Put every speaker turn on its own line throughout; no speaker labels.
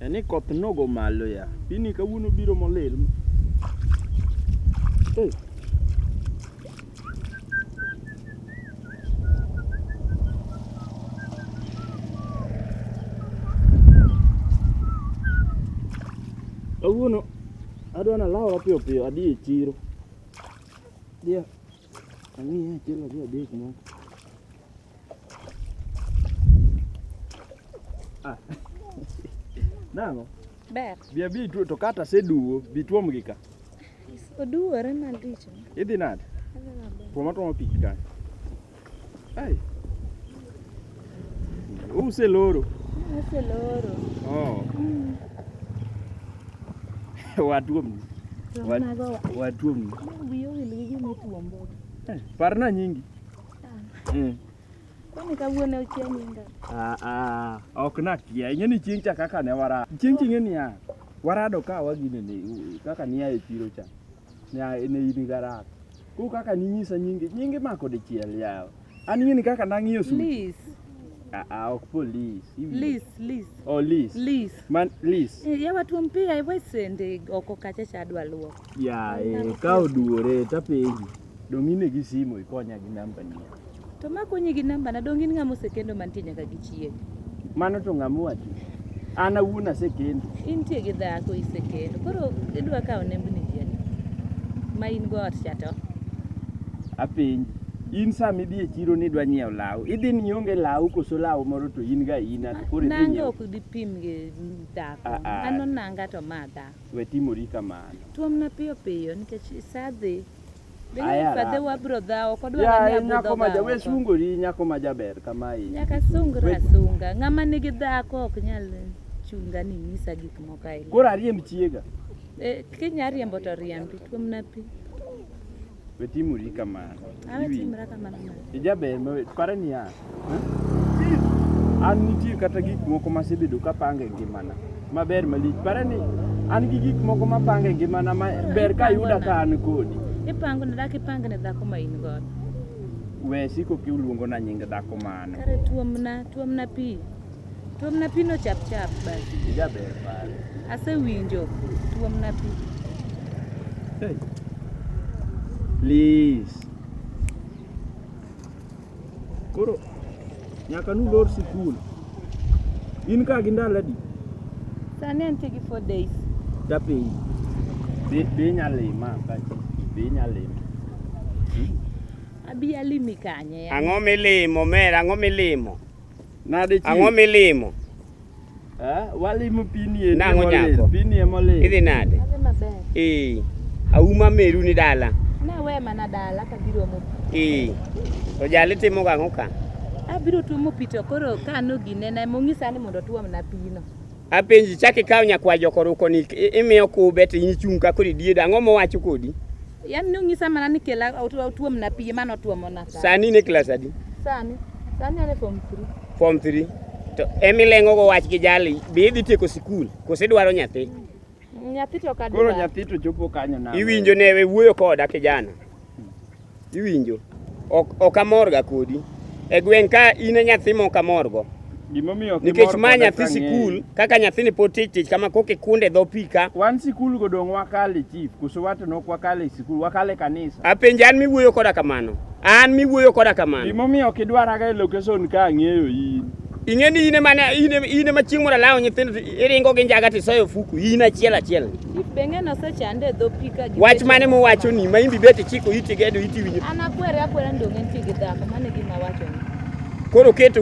Yani koth nogo malo ya. Pini kawuono biro molil. Hey. Kawuono adwa nalawa piyo piyo adhi e chiro. Yeah. Ang'iye achiel ariyo adek moko. Ah. Nang'o? Ber. Bi abi
itwo to kata
aseduwo, bi tuom gi ka. Oduwore
malich. Idhi nade? Adhi
maber. Tuom atuoma pi gi kanyo. Ai. Use loro. Use loro.
Oh. Mm.
Watuom. Watuom. Wiyo wil gi
gima tuom bo. Eh, parna
nyingi. Ah. Mm.
Kwani kawuono ukia nyinga? Ah ah,
ok nakia. Ing'e ni chieng' cha kaka ne wara. Chieng' ching'e ni ya. Warado ka wagine ni kaka ni ya e chiro cha. Ne ne in garaka. Ku kaka ninyisa nyingi, nyingi mako dichiel yawa. An ing'e ni kaka nang'iyo suti. Liz.
Ah, ah, ok
police. Hivi. Liz, Liz.
Oh, Liz.
Liz. Man, Liz. Eh, ya watu mpia
iwe sende oko kachacha adwa luo. Ya, eh,
ka oduore tapenji. Dong' in gi simo ikonya gi namba ni. To ma konyi
gi namba na dong' in ng'ama osekendo mantie nyaka gi chieng'. Mano to ng'ama
wacho. An awuon asekendo. Intie gi dhako
isekendo. Koro idwa kawo nembni ji adi? Ma in go ot cha to.
Apenji. In sama idhi e chiro ni idwa nyiewo law, idhi ni ionge law koso law moro to in ga in to koro idhi Nanga nyiewo. ok dipim gi
dhako. Ah, ah. Mano nanga to ma dhako. We timori
kamano. Tuomna piyo piyo
nikech saa dhi. Aya, Fadhe raha. wabro dhawo, ok odwar Ya, ni nyako abudho ma ja dhawo. we
sungori nyako ma jaber kama in. Nyaka sungra We-
sunga. Ng'ama nigi dhako ok nyal chunga ni nyisa gik moko aila. Koro ariemb chiega.
Eh, Kinya
riembo to riembi, tuomna pi.
Wetimuri kamano. Awetimra
kamano. Ijaber ma
pare ni ya. An nitie kata gik moko masebedo kapango e ngimana maber malich. Pare ni an gi gik moko mapango e ngimana ma ber ka yuda ka an kodi. Ipango na dak
ipango ne dhako ma in godo. We
siko kiluongo na nying dhako mano. Kare tuomna,
tuomna pi. Tuomna pi no chap chap basi. Ijaber pale.
Asewinjo.
Tuomna pi. Hey.
Please. Koro nyaka nulor sikul. In ka gi ndalo adi? Sani
antie gi four days. Dapenji.
Be be inyalo lima kachi. Be inyalo lima.
Abi alimi kanye? Ang'o milimo
mera? Ang'o milimo? Nade chi?
Ang'o milimo?
Eh,
walimo pini e Nang'o nyako? Pini e
molil. Idhi
nade? Adhi
maber.
Eh. Auma
meru ni dala. Ne we mana
dala ka biro mo. Eh. To
jali timo gang'o ka? Abiro tuomo
pi to koro ka no ginena mong'isa ni mondo tuom na pino. Apenji chak
ikaw nyakwa jokoro koni imiyo kube to in ichung' ka koro idiedo ang'o mowacho kodi? Yaani nong'isa
mana ni kela otuom na pi mano tuomo na sa. Sani ne klas adi?
Sani. Sani
ane form 3. Form 3.
To emilengo go wach gi jali be idhi tieko sikul kose dwaro nyathi? Nyathi to
kadwaro. Koro nyathi to chopo
kanyo na. Iwinjo ne we wuoyo
koda kijana. Iwinjo. Ok ok amorga kodi. E gweng' ka in e nyathi mok amorgo. Gimomiyo nikech
ma nyathi
sikul kaka nyathini pod tich tich kama koka ikunde dho pika. Wan sikul go dong'
wakale chief koso wato nok wakale sikul wakale kanisa. Apenja an miwuoyo koda
kamano. An miwuoyo koda kamano. Gimomiyo ok idwaraga
e location ka ang'eyo in. Ing'e ni in ema
in in ema chieng' moro alawo nyithindo iringo gi njaga tisoyo fuku in achiel achiel. Chief benge no
sechande dho pika gi. Wach mane muwacho ni
ma imbi bet chiko iti
gedo
iti
winyo.
An
akwere akwera
ndong'
entie gi
dhako
mane
gima
wacho
ni.
Koro
keto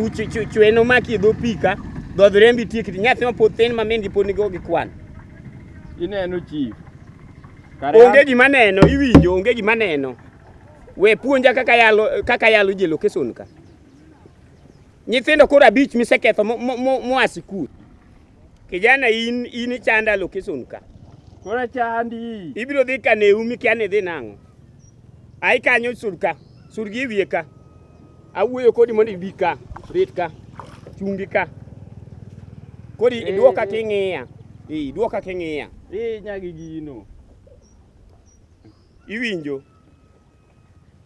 chwe nomaki e dho pi ka dhodh rembi tiekni nyathi ma pod thin ma min gi pod nigo gi kwan. Ineno
chief. Onge
gima neno, iwinjo onge gima neno. We puonja kaka yalo kaka yalo je location ka. Nyithindo koro abich miseketho mo mo mo asikul. Kijana in in ichanda location ka. Koro achandi.
Ibiro dhi ka neu
mikia ni dhi nang'o. Ai kanyo sur ka. Sur gi wiye ka. Awuoyo kodi mondo ibi ka. Rit ka. Chungi ka. Kodi Eh, iduoka eh. king'iya. Eh, iduoka king'iya. Eh, nyagi gino. Iwinjo.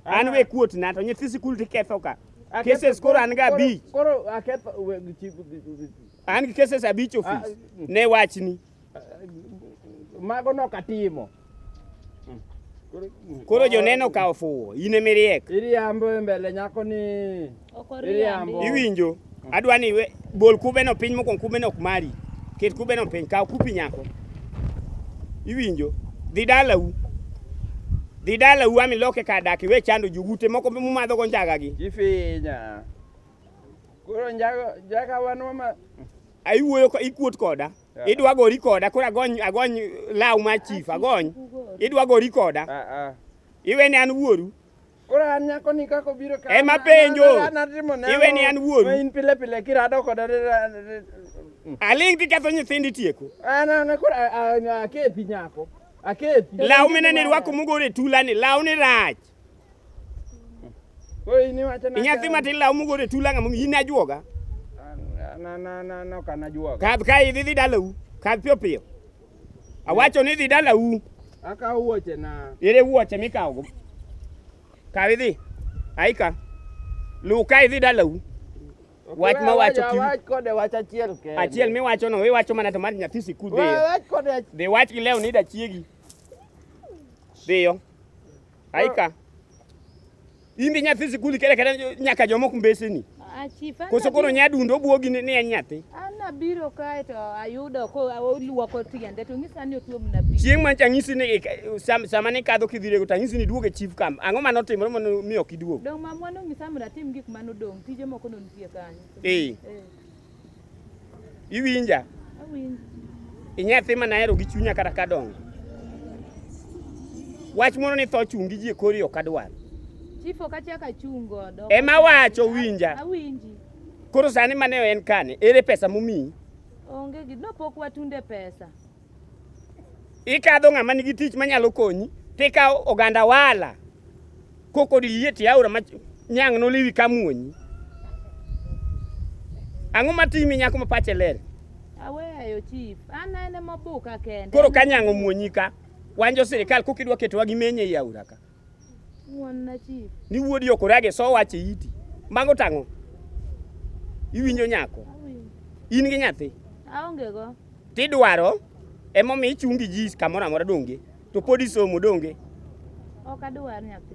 An Ah. we kuot na to nyithi sikul tiketho ka. Aketho- Cases koro an ga abich. Koro aketho we-
chi-
An gi cases abich ah, ofis mm. ne wachni.
Ah, mago no katimo. Mm.
Koro joneno ka ofuwo, in e miriek. Iriambo e mbele
nyako ni. Iriambo. Iwinjo. Mm.
Adwa ni we bol kube no piny mokon kube no kumari. Ket kube no piny kaw kupi nyako. Iwinjo. Dhi dalau. Dhi dalau ami loke ka dak iwe chando jugute moko mumadho go njaga gi. Ifinya.
Koro njago jaka wanwa ma iwuoyo ko-
ikuot koda Yeah. idwa gori koda koro agony agony law mar chief agony idwa gori koda ah ah. iwe ni an wuoru Koro an nyako
ni kako biro ka. Ema penjo.
Anatimo ne. Iwe ni an wuoru. In pile pile kirado
koda.
aling' tiketho nyithindi tieko Ana na koro
akepi nyako. Akepi. law mene nirwako
mugore tulani law ni rach
Inyathi matin law mogore
tula ng'ama in ajuoga. Na na
na no kana juoga. Kadh ka idhi dhi dalau.
Kadh piyo piyo. Awacho ni dhi dalau. Akaw wuoche
na. Ere wuoche mikawogo.
Kaw idhi. Aika. Luw ka idhi dalau. Wach ma wacho kiu. Wach kode wach achiel
kende. Achiel miwacho no, iwacho
mana to mar nyathi sikul dhiyo. Wach kode. Dhi
wach gi leo ni
dachiegi. Dhiyo. Aika. Imbe nyathi sikul kere kere nyaka jomok mbeseni. Ah, chief, an Koso koro nabiro- nyadundo obwogi ni ni en nyathi. an nabiro kae
to ayudo ko oluoko tiende to nyisa ni otuom nabi Chieng' ma chang'isi ni ik-
sam- sama ne kadho kidhirego tang'isi ni duoge chief camp. Ang'o ma notimore mondo mi ok iduog? dong' ma mwandu nyisa mondo
atim gik manodong' tije moko nonitie kanyo Eh. Eh.
Iwinja?
Inyathi
ma nahero gi chunya kata ka dongo. Wach moro ni tho chungi ji e kori ok adwar. Chifo ka
chaka chung godo. Ema wacho winja.
Awinji.
Koro sani
mane en kane? Ere pesa momiyi? Onge gi no
pok watunde pesa.
ikadho ng'ama nigi tich manyalo konyi tikawo oganda wala kokod liet yaura ma nyang' noliwi kamuonyi ang'o matimi nyako ma pache ler aweyo
chief anene mobuka kende koro ka nyang' omuonyi
ka wanjo sirikal kokidwa ketowa gi menye yaura ka
ni wuodi okore age
so wache iti mago tang'o iwinjo nyako in gi nyathi aongego
tidwaro
emomiyo ichungi ji kamoro amora donge to pod isomo donge ok
adwar nyathi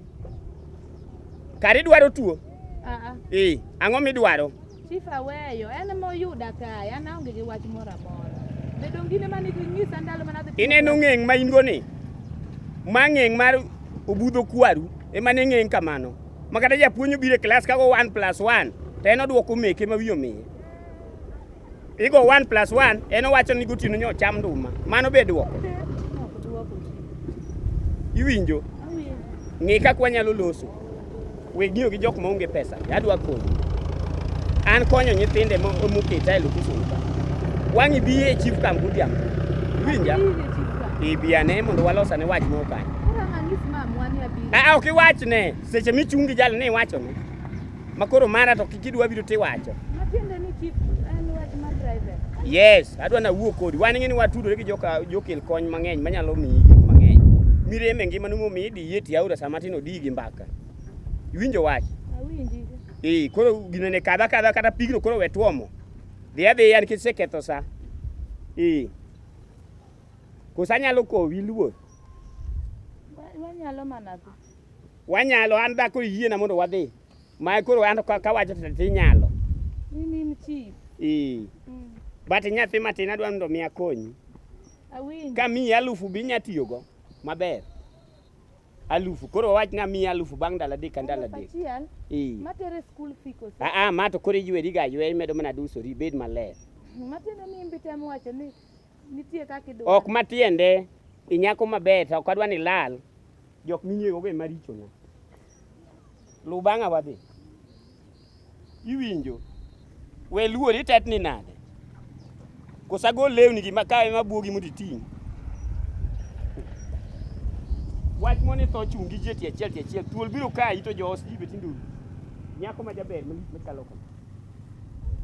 kar idwaro tuo Aa, Eh, ang'o midwaro? chief aweyo,
en ema oyuda kae, an aonge gi wach moro amora. Be dongine mane inyisa ndalo mane adhi timo Ineno kama? ng'eng' ma in go
ni? Ma ng'eng' mar obudho kwaru ema ne ng'eng' kamano. Ma kata japuonj obiro e klas kago 1 plus 1 to en odwoko meke ma wiye omiye. Igo 1 plus 1 en owacho ni gotieno nyo cham nduma. Mano be dwoko. Iwinjo? Ng'e kaka wanyalo loso. Wegio gi jok maonge pesa. Adwa konyo. An konyo nyithinde moketa e lokusungu. Wang'i bi e chief kam godhiambo. Iwinja? Ibi ane mondo walos ane wach moro kanyo. Ah, ok iwachne. Seche michungi jal ni iwachone. ma koro mara to kik idwa biro tiwacho. Matiende ni kik
en wach mar driver. Yes, adwa na
wuo kodi. Wan ng'eni watudore gi joka jokel kony mang'eny manyalo miyi gik mang'eny. Mireme ngima numo mi di yeti aura sama tino di gi mbaka. Iwinjo wach? Awinji.
Eh, koro gino ne
kadha kadha kata pigno koro we tuomo. Dhi adhi yan kise ketho sa. Eh. Kosa nyalo kowi luor. Wanyalo
mana dhi. Wanyalo, an
dhako yiena mondo wadhi. Ma koro an ka ka wacho to inyalo. In in
chief. Ee.
Mm. But nyathi matin adwa mondo mi akonyi. Awinjo. Ka miyi alufu be inya tiyogo maber. Alufu. Koro wach ni amiyi alufu bang' ndalo adek ka ndalo Alufu adek. achiel Ee. matere
school fee koso. Aa, ma to koro iyweri
ga ywe imedo mana dusori ibed maler. Matiende ni imbi
temo wacho ni Nitie kaka idwaro. ok matiende
inyako maber to ok adwa ni lal jok minyiewogo ema richona luw bang'a wadhi iwinjo we luor itetni nade koso agol lewni gi makawe mabwogi mondo iting' wach moni tho chung' gi ji e tie achiel tie achiel thuol biro kayi to joos ji be tinde oru nyako ma jaber malich machalo kama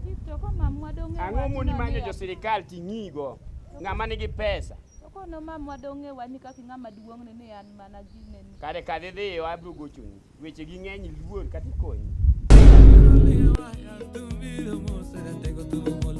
TikTok omamwa dong' e Ang'o wachno moni manyo ni- jo
sirikal ting'igo? Ng'ama nigi pesa. To kono mamwa
dong' e wachni kaka ng'ama duong' ni ni an mana gine ni. Kare kadhi idhiyo abiro
gochoni. Weche gi ng'eny iluor kata ikonyi. Olé, vaya, tu vida, mostra, tengo tu bola.